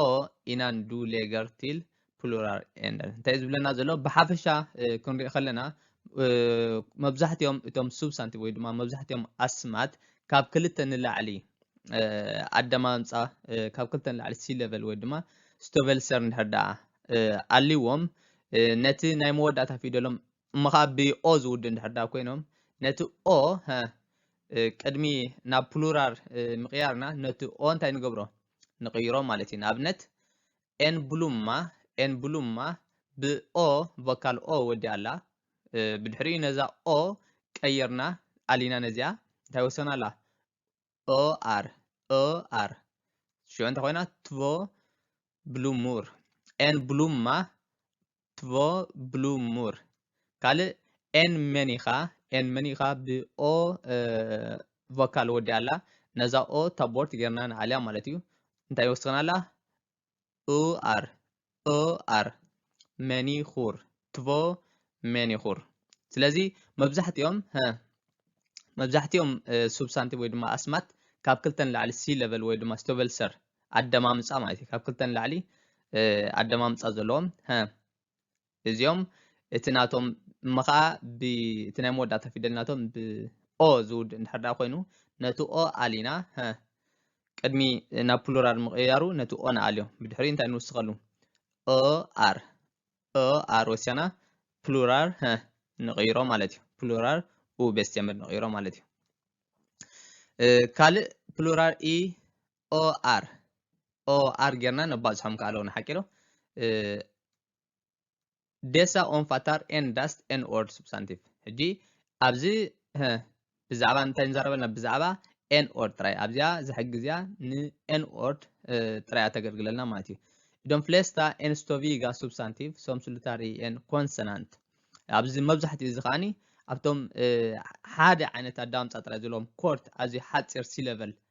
ኦ ኢናን ዱ ሌገር ቲል ፕሉራል ኤንደር እንታይ ዝብለና ዘሎ ብሓፈሻ ክንሪኦ ከለና መብዛሕትኦም እቶም ሱብሳንቲቭ ወይ ድማ መብዛሕትኦም ኣስማት ካብ ክልተ ንላዕሊ ኣደማምፃ ካብ ክልተ ንላዕሊ ሲ ሌቨል ወይ ድማ ስቶቨልሰር እንድሕር ደኣ ኣልዎም ነቲ ናይ መወዳእታ ፊደሎም እሞ ከዓ ብኦ ዝውድ እንድሕር ደኣ ኮይኖም ነቲ ኦ ቅድሚ ናብ ፕሉራል ምቕያርና ነቲ ኦ እንታይ ንገብሮ ንቕይሮ ማለት እዩ። ንኣብነት ኤንብሉማ፣ ኤንብሉማ ብ ኦ ቮካል ኦ ወዲኣ ኣላ። ብድሕሪኡ ነዛ ኦ ቀይርና ኣሊና ነዚኣ እንታይ ወሰና ኣላ? ኦ ኣር፣ ኦ ኣር። ሽዑ እንታይ ኮይና? ትቮ ብሉሙር፣ ኤንብሉማ ትቮ ብሉ ሙር ካልእ ኤን መን ኢኻ ኤን መን ኢኻ ብኦ ቮካል ወዲ ኣላ ነዛ ኦ ታቦርት ጌርና ንዓልያ ማለት እዩ እንታይ ወስኽና ኣላ ኡ ኣር ኦ ኣር መኒኹር ትቮ መኒኹር ስለዚ መብዛሕትኦም መብዛሕትኦም ሱብሳንቲቭ ወይ ድማ ኣስማት ካብ ክልተ ንላዕሊ ሲ ለቨል ወይ ድማ ስቶቨልሰር ኣደማምጻ ማለት እዩ ካብ ክልተ ንላዕሊ ኣደማምጻ ዘለዎም ሀ እዚኦም እቲ ናቶም እሞ ከዓ እቲ ናይ መወዳእታ ፊደል ናቶም ብኦ ዝውድ እንድሕር ዳ ኮይኑ ነቲ ኦ ኣሊና ሀ ቅድሚ ናብ ፕሉራል ምቕያሩ ነቲ ኦ ንኣልዮ ብድሕሪ እንታይ ንውስኸሉ ኦ ኣር ኦ ኣር ወሲና ፕሉራል ሀ ንቕይሮ ማለት እዩ ፕሉራል ኡ ቤስቴምር ንቕይሮ ማለት እዩ ካልእ ፕሉራል ኢ OR OR ጌርና ነባዝሖም ከዓ ኣለውና ሓቂ ዶ ዴሳ ኦንፋታር ኤን ዳስት ኤን ኦርድ ሱብሳንቲቭ ሕጂ ኣብዚ ብዛዕባ እንታይ ንዛረብ ኣለና ብዛዕባ ኤን ኦርድ ጥራይ ኣብዚኣ ዝሕጊ እዚኣ ንኤን ኦርድ ጥራይ ኣተገልግለልና ማለት እዩ ዶም ፍሌስታ ኤንስቶቪጋ ሱብሳንቲቭ ሶም ስሉታሪ ኤን ኮንሰናንት ኣብዚ መብዛሕትኡ እዚ ከዓኒ ኣብቶም ሓደ ዓይነት ኣዳምፃ ጥራይ ዘለዎም ኮርት ኣዝዩ ሓፂር ሲለቨል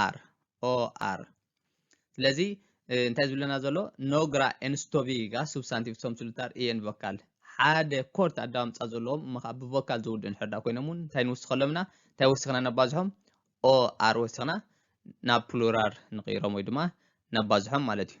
ኣር ኦ ኣር ስለዚ እንታይ ዝብለና ዘሎ ኖግራ ኤንስቶቪጋ ሱብሳንቲቭ ሶም ስሉታር ኢየን ቮካል ሓደ ኮርት ኣዳምፃ ዘለዎም እሞ ከዓ ብቮካል ዝውድኡ እንድሕር ዳ ኮይኖም እውን እንታይ ንውስኸሎም ኢና እንታይ ወሲኽና ነባዝሖም ኦ ኣር ወሲኽና ናብ ፕሉራር ንቕይሮም ወይ ድማ ነባዝሖም ማለት እዩ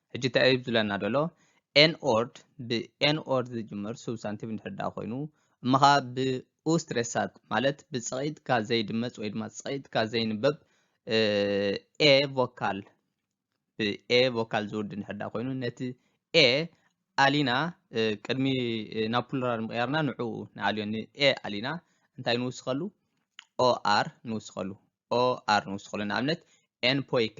ሕጂ እንታይ እዩ ዝብለና ዘሎ ኤንኦርድ ብኤንኦርድ ዝጅምር ሱብሳንቲቭ እንድሕር ደኣ ኮይኑ እሞ ኸኣ ብኡስትሬሳት ማለት ብጽቒጥካ ዘይድመጽ ወይ ድማ ጽቒጥካ ዘይንበብ ኤ ቮካል ብኤ ቮካል ዝውድ እንድሕር ደኣ ኮይኑ ነቲ ኤ ኣሊና ቅድሚ ናብ ፕሉራል ምቕያርና ንዕኡ ንኣልዮ ንኤ ኣሊና እንታይ ንውስኸሉ ኦኣር ንውስኸሉ ኦኣር ንውስኸሉ ንኣብነት ኤንፖይከ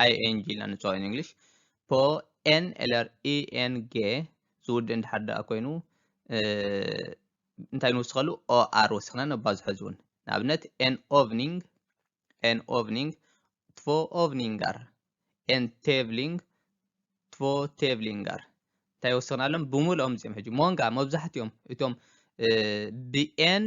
ING ኢልና ንፅውዖ in English ፖ ኤን ኤለር ኢኤን ጌ ዝውድእ እንድሓር ደኣ ኮይኑ እንታይ ንውስኸሉ ኦኣር ወሲኽና ነባዝሖ እዚ እውን ንኣብነት ኤን ኦቭኒንግ ኤን ኦቭኒንግ ትቮ ኦቭኒንጋር ኤን ቴቭሊንግ ትቮ ቴቭሊንጋር እንታይ ወሲኽና ኣሎም ብምልኦም እዚኦም ሕጂ ሞንጋ መብዛሕትኦም እቶም ብኤን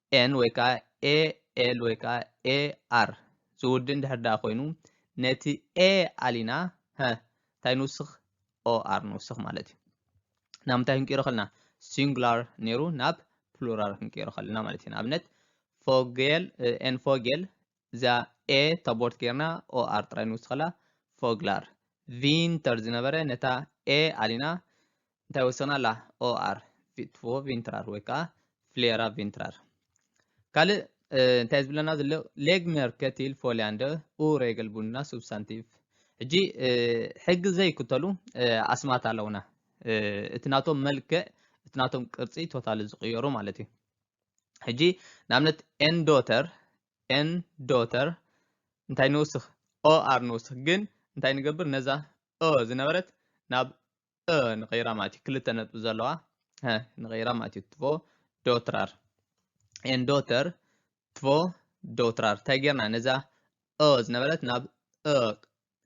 ኤን ወይ ከዓ ኤ ኤል ወይ ከዓ ኤ ኣር ዝውድእ እንድሕር ደኣ ኮይኑ ነቲ ኤ ኣሊና ሀ እንታይ ንውስኽ ኦ ኣር ንውስኽ ማለት እዩ ናብ ምንታይ ክንቅይሮ ከለና ሲንጉላር ነይሩ ናብ ፕሉራል ክንቅይሮ ከለና ማለት እዩ ንኣብነት ፎጌል ኤን ፎጌል እዚኣ ኤ ተቦርት ጌርና ኦ ኣር ጥራይ ንውስኸላ ፎግላር ቪንተር ዝነበረ ነታ ኤ ኣሊና እንታይ ወሰናላ ኦ ኣር ቪትፎ ቪንትራር ወይ ከዓ ፍሌራ ቪንትራር ካልእ እንታይ ዝብለና ዘሎ ሌግመር ከቲል ፎሊያንደ ኡ ሬገል ቡና ሱብሳንቲቭ ሕጂ ሕጊ ዘይክተሉ ኣስማት ኣለውና እቲ ናቶም መልክዕ እቲ ናቶም ቅርፂ ቶታል ዝቕየሩ ማለት እዩ ሕጂ ንኣብነት ኤን ዶተር ኤን ዶተር እንታይ ንውስኽ ኦ ኣር ንውስኽ ግን እንታይ ንገብር ነዛ ኦ ዝነበረት ናብ እ ንቀይራ ማለት እዩ ክልተ ነጥቢ ዘለዋ ንቀይራ ማለት እዩ ትቮ ዶትራር ኤን ዶተር ትቮ ዶትራር እንታይ ጌርና ነዛ ኦ ዝነበረት ናብ እ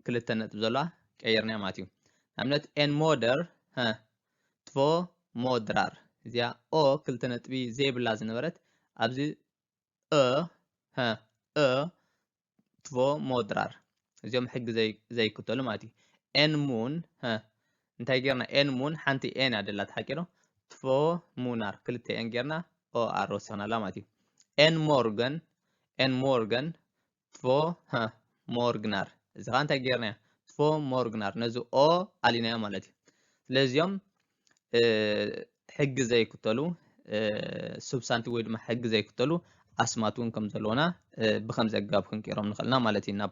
ክልተ ነጥብ ዘለዋ ቀይርናያ ማለት እዩ ንኣብነት ኤን ሞደር ትቮ ሞድራር እዚኣ ኦ ክልተ ነጥቢ ዘይብላ ዝነበረት ኣብዚ እ እ ትቮ ሞድራር እዚኦም ሕጊ ዘይክተሉ ማለት እዩ ኤን ሙን እንታይ ጌርና ኤን ሙን ሓንቲ ኤን እያ ደላ ተሓቂሮ ትቮ ሙናር ክልተ ኤን ጌርና ኦ ኣር ወሲኽናላ ማለት እዩ ኤን ሞርገን ኤን ሞርገን ትፎ ሃ ሞርግናር እዚ ከዓ እንታይ ጌርናዮ ትፎ ሞርግናር ነዚ ኦ ኣሊናዮ ማለት እዩ ስለዚኦም ሕጊ ዘይክተሉ ሱብሳንቲ ወይ ድማ ሕጊ ዘይክተሉ ኣስማት እውን ከም ዘለውና ብከምዚ ኣገባብ ክንቅይሮም ንኽእልና ማለት እዩ ናብ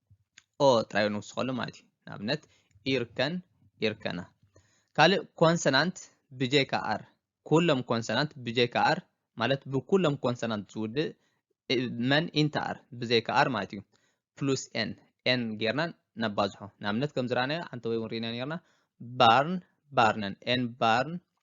ኦ ጥራይ ንውስኸሉ ማለት እዩ ንኣብነት ኢርከን ኢርከና ካልእ ኮንሰናንት ብጀካ ኣር ኩሎም ኮንሰናንት ብጀካ ኣር ማለት ብኩሎም ኮንሰናንት ዝውድእ መን ኢንተ ኣር ብዘይካ ኣር ማለት እዩ ፕሉስ ኤን ኤን ጌርና ነባዝሖ ንኣብነት ከም ዝረኣናዮ ሓንቲ ወይ እውን ርኢና ኔርና ባርን ባርነን ኤን ባርን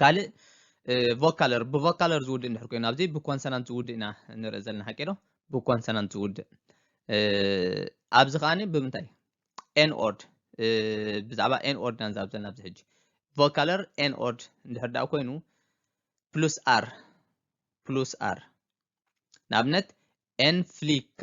ካልእ ቮካለር ብቮካለር ዝውድእ እንድሕር ኮይኑ ኣብዚ ብኮንሰናንት ዝውድእ ኢና ንርኢ ዘለና ሓቂ ዶ ብኮንሰናንት ዝውድእ ኣብዚ ከዓኒ ብምንታይ ኤን ኦርድ ብዛዕባ ኤን ኦርድ ኢና ንዛብ ዘለና ኣብዚ ሕጂ ቮካለር ኤን ኦርድ እንድሕር ደኣ ኮይኑ ፕሉስ ኣር ፕሉስ ኣር ንኣብነት ኤን ፍሊካ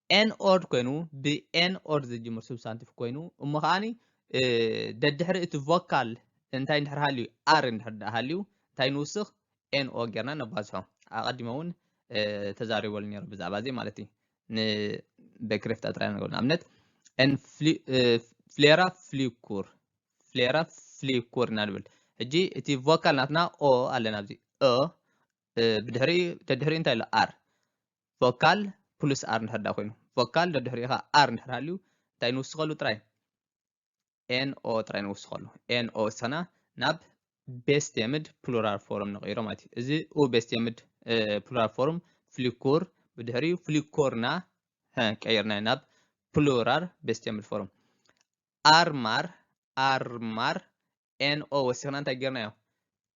ኤን ኦርድ ኮይኑ ብኤን ኦርድ ዝጅምር ሱብሳንቲቭ ኮይኑ እሞ ከዓኒ ደድሕሪ እቲ ቮካል እንታይ እንድሕር ሃልዩ ኣር እንድሕር ደኣ ሃልዩ እንታይ ንውስኽ ኤን ኦ ጌርና ነባዝሖ ኣቐዲመ እውን ተዛሪበሉ ነይሩ ብዛዕባ እዚ ማለት እዩ ንበክሬፍታ ጥራይ ነገሩ ንኣብነት ን ፍሌራ ፍሊኩር ፍሌራ ፍሊኩር ኢና ንብል ሕጂ እቲ ቮካል ናትና ኦ ኣለና ኣብዚ ኦ ብድሕሪ ደድሕሪ እንታይ ኣሎ ኣር ቮካል ፕሉስ ኣር እንድሕር ዳ ኮይኑ ቮካል ደድሕሪኡ ኸ ኣር እንድሕር ሃልዩ እንታይ ንውስኸሉ ጥራይ ኤንኦ ጥራይ ንውስኸሉ ኤንኦ ወሰና ናብ ቤስት የምድ ፕሉራል ፎርም ንቕይሮ ማለት እዩ እዚ ኡ ቤስት የምድ ፕሉራል ፎርም ፍሊኩር ብድሕሪኡ ፍሊኮርና ቀይርናዮ ናብ ፕሉራል ቤስት የምድ ፎርም ኣርማር ኣርማር ኤንኦ ወሲኽና እንታይ ጌርናዮ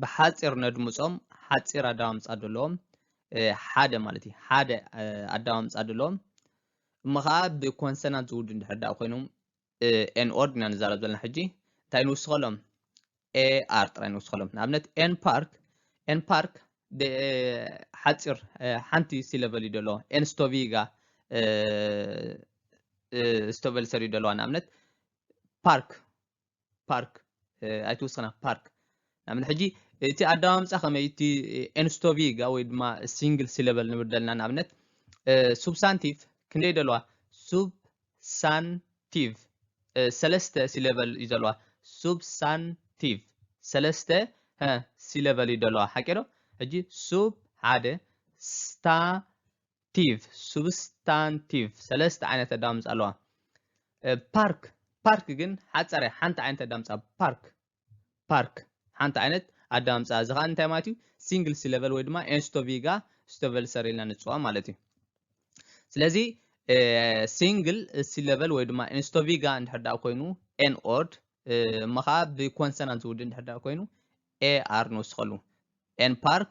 ብሓጺር ነድምጾም ሓጺር ኣዳማምጻ ደለዎም ሓደ ማለት እዩ ሓደ ኣዳማምጻ ደለዎም እሞ ከዓ ብኮንሰናት ዝውዱ እንድሕር ዳኣ ኮይኖም ኤን ኦርድ ኢና ንዛረብ ዘለና ሕጂ እንታይ ንውስኸሎም ኤኣር ጥራይ ንውስኸሎም ንኣብነት ኤን ፓርክ ኤን ፓርክ ሓፂር ሓንቲ ሲለቨል እዩ ደለዎ ኤን ስቶቪጋ ስቶቨል ሰር እዩ ደለዋ ንኣብነት ፓርክ ፓርክ ኣይትውስኽና ፓርክ ናምን ሕጂ እቲ ኣደማምፃ ከመይ እቲ ኤንስቶቪጋ ወይ ድማ ሲንግል ሲለበል ንብል ዘለና ንኣብነት ሱብሳንቲቭ ክንደይ ደለዋ ሱብሳንቲቭ ሰለስተ ሲለበል እዩ ዘለዋ ሱብሳንቲቭ ሰለስተ ሲለበል እዩ ደለዋ ሓቂ ዶ ሕጂ ሱብ ሓደ ስታ ቲቭ፣ ሱብስታንቲቭ፣ ሰለስተ ዓይነት ኣዳምጻ ኣለዋ። ፓርክ፣ ፓርክ ግን ሓጻር እያ፣ ሓንቲ ዓይነት ኣዳምጻ ፓርክ፣ ፓርክ፣ ሓንቲ ዓይነት ኣዳምጻ። እዚ ከኣ እንታይ ማለት እዩ? ሲንግል ሲለቨል ወይ ድማ ኤንስቶቪጋ ስቶቨልሰር ኢልና ንጽዋ ማለት እዩ። ስለዚ ሲንግል ሲለቨል ወይ ድማ ኤንስቶቪጋ እንድሕር ደኣ ኮይኑ ኤን ኦርድ እሞ ከዓ ብኮንሰናንት ዝውድእ እንድሕር ደኣ ኮይኑ ኤ ኣር ንውስኸሉ ኤን ፓርክ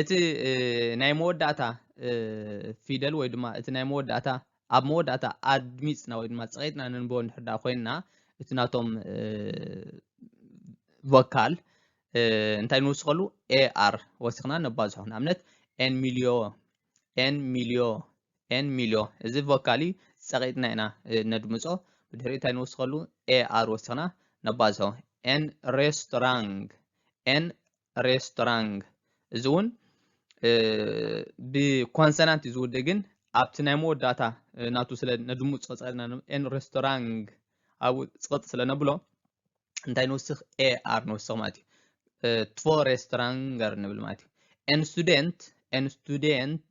እቲ ናይ መወዳእታ ፊደል ወይ ድማ እቲ ናይ መወዳእታ ኣብ መወዳእታ ኣድሚፅና ወይ ድማ ፀቂጥና ንንቦ እንድሕር ዳ ኮይንና እቲ ናቶም ቮካል እንታይ ንውስኸሉ ኤኣር ወሲኽና ነባዝሖ ንኣብነት ኤን ሚልዮ ኤን ሚልዮ ኤን ሚልዮ እዚ ቮካል እዩ ፀቂጥና ኢና ነድምፆ ብድሕሪ እንታይ ንውስኸሉ ኤኣር ወሲኽና ነባዝሖ ኤን ሬስቶራንግ ኤን ሬስቶራንግ እዚ እውን ብኮንሰናንት እዩ ዝውድእ ግን ኣብቲ ናይ መወዳእታ ናቱ ስለ ነድሙፅ ፀፀና ኤን ሬስቶራንግ ኣብኡ ፅቕጥ ስለ ነብሎ እንታይ ንውስኽ ኤ ኣር ንውስኽ ማለት እዩ ትቮ ሬስቶራንገር ንብል ማለት እዩ ኤን ስቱደንት ኤን ስቱደንት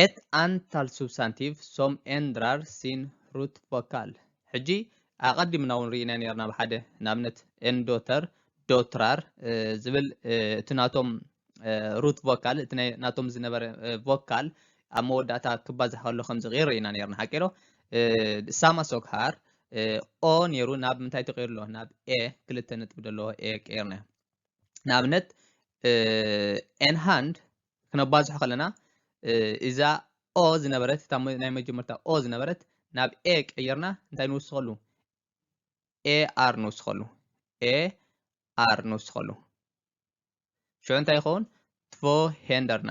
ኤት ኣንታል ሱብሳንቲቭ ሶም ኤንድራር ሲን ሩት ቮካል ሕጂ ኣቐዲምና እውን ርኢና ነርና ኣብ ሓደ ንኣብነት ኤንዶተር ዶትራር ዝብል እቲ ናቶም ሩት ቮካል እቲ ናቶም ዝነበረ ቮካል ኣብ መወዳእታ ክባዛሕ ከሎ ከም ዝቕይር ርኢና ነርና ሓቂ ዶ ሳማ ሶግሃር ኦ ነይሩ ናብ ምንታይ ተቐይሩ ኣሎ ናብ ኤ ክልተ ነጥቢ ዘለዎ ኤ ቀይርናዮ ንኣብነት ኤንሃንድ ክነባዝሖ ከለና እዛ ኦ ዝነበረት እታ ናይ መጀመርታ ኦ ዝነበረት ናብ ኤ ቀይርና እንታይ ንውስኸሉ ኤ ኣር ንውስኸሉ ኤ ኣር ንውስኸሉ ሽዑ እንታይ ይኸውን ትቮ ሄንደርና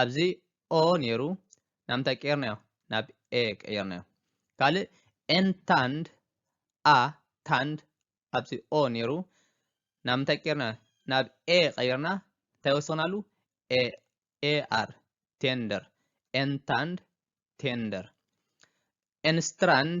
ኣብዚ o ነይሩ ናብ ምንታይ ቀይርናዮ ናብ a ቀይርናዮ ካልእ n ታንድ a ታንድ ኣብዚ o ነይሩ ናብ ምንታይ ቀይርናዮ ናብ a ቀይርና እንታይ ወሰኽናሉ a ar tender n ታንድ tender n strand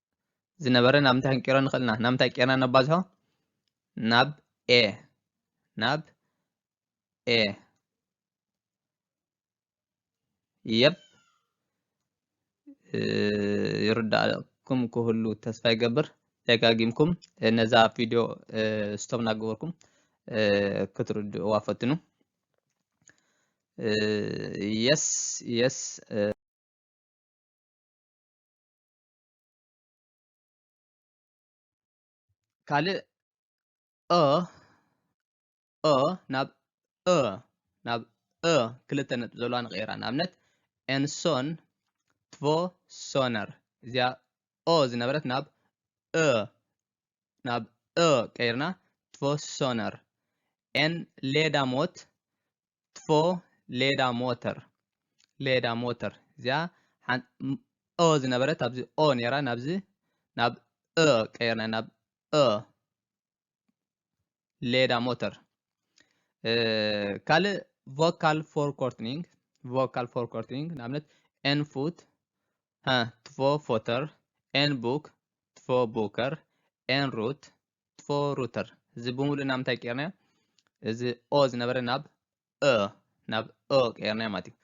ዝነበረ ናብ እንታይ ክንቀይሮ ንኽእል ኢና ናብ እንታይ ቀይርና ነባዝሖ ናብ ኤ ናብ ኤ የብ ይርዳእኩም ክህሉ ተስፋ ይገብር ደጋጊምኩም ነዛ ቪድዮ ስቶብ እናገበርኩም ክትርድእዋ ፈትኑ የስ የስ ካልእ እ እ ናብ እ ናብ እ ክልተ ነጥቢ ዘለዋ ንቕይራ ንኣብነት ኤንሶን ትቮ ሶነር እዚኣ ኦ ዝነበረት ናብ እ ናብ እ ቀይርና ትቮ ሶነር ኤን ሌዳሞት ትፎ ሌዳ ሞተር ሌዳ ሞተር እዚኣ ኦ ዝነበረት ኣብዚ ኦ ነራ ናብዚ ናብ እ ቀይርና ናብ እ ሌዳ ሞተር ካልእ ቮካል ፎር ኮርትኒንግ ቮካል ፎር ኮርትኒንግ ንኣብነት ኤን ፉት ትፎ ፎተር ኤን ቡክ ትፎ ቡከር ኤን ሩት ፎ ሩተር እዚ ብምሉእ ናብ እንታይ ቀይርናዮ እዚ ኦ ዝነበረ ናብ እ ናብ ኦ ቀይርናዮ ማለት እዩ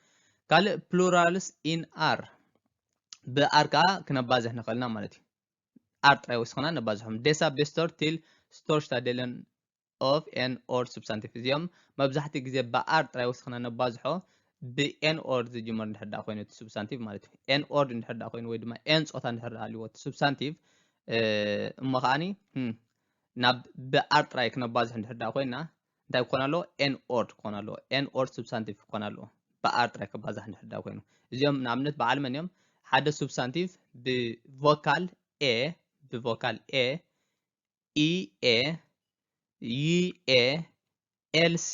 ካልእ ፕሉራልስ ኢን ኣር ብኣር ከዓ ክነባዝሕ ንኽእል ኢና ማለት እዩ ኣር ጥራይ ወሲኽና ነባዝሖም ደሳ ቤስቶር ቲል ስቶርሽታ ደለን ኦፍ ኤን ኦር ሱብሳንቲቭ እዚኦም መብዛሕትኡ ግዜ ብኣር ጥራይ ወሲኽና ነባዝሖ ብኤን ኦር ዝጅመር እንድሕር ደኣ ኮይኑ እቲ ሱብሳንቲቭ ማለት እዩ ኤን ኦር እንድሕር ደኣ ኮይኑ ወይ ድማ ኤን ፆታ እንድሕር ሃልዎ እቲ ሱብሳንቲቭ እሞ ከዓኒ ናብ ብኣር ጥራይ ክነባዝሕ እንድሕር ደኣ ኮይና እንታይ ክኾን ኣለዎ ኤን ኦርድ ክኾን ኣለዎ ኤን ኦርድ ሱብሳንቲቭ ክኾን ኣለዎ ብኣር ጥራይ ክባዛሕ እንድሕር ደኣ ኮይኑ እዚኦም ንኣብነት በዓል መን እዮም ሓደ ሱብሳንቲቭ ብቮካል ኤ ብቮካል ኤ ኢ ኤ ዩ ኤ ኤል ሴ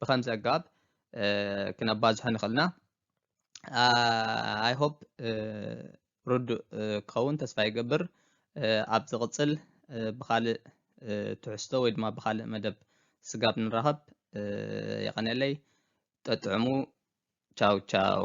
ብከምዚ ኣገባብ ክነባዝሖ ንኽእል ኢና ኣይ ሆፕ ርዱእ ክኸውን ተስፋ ይገብር ኣብ ዝቕፅል ብካልእ ትሕዝቶ ወይ ድማ ብካልእ መደብ ስጋብ ንራኸብ የቐንየለይ ጠጥዕሙ ቻው ቻው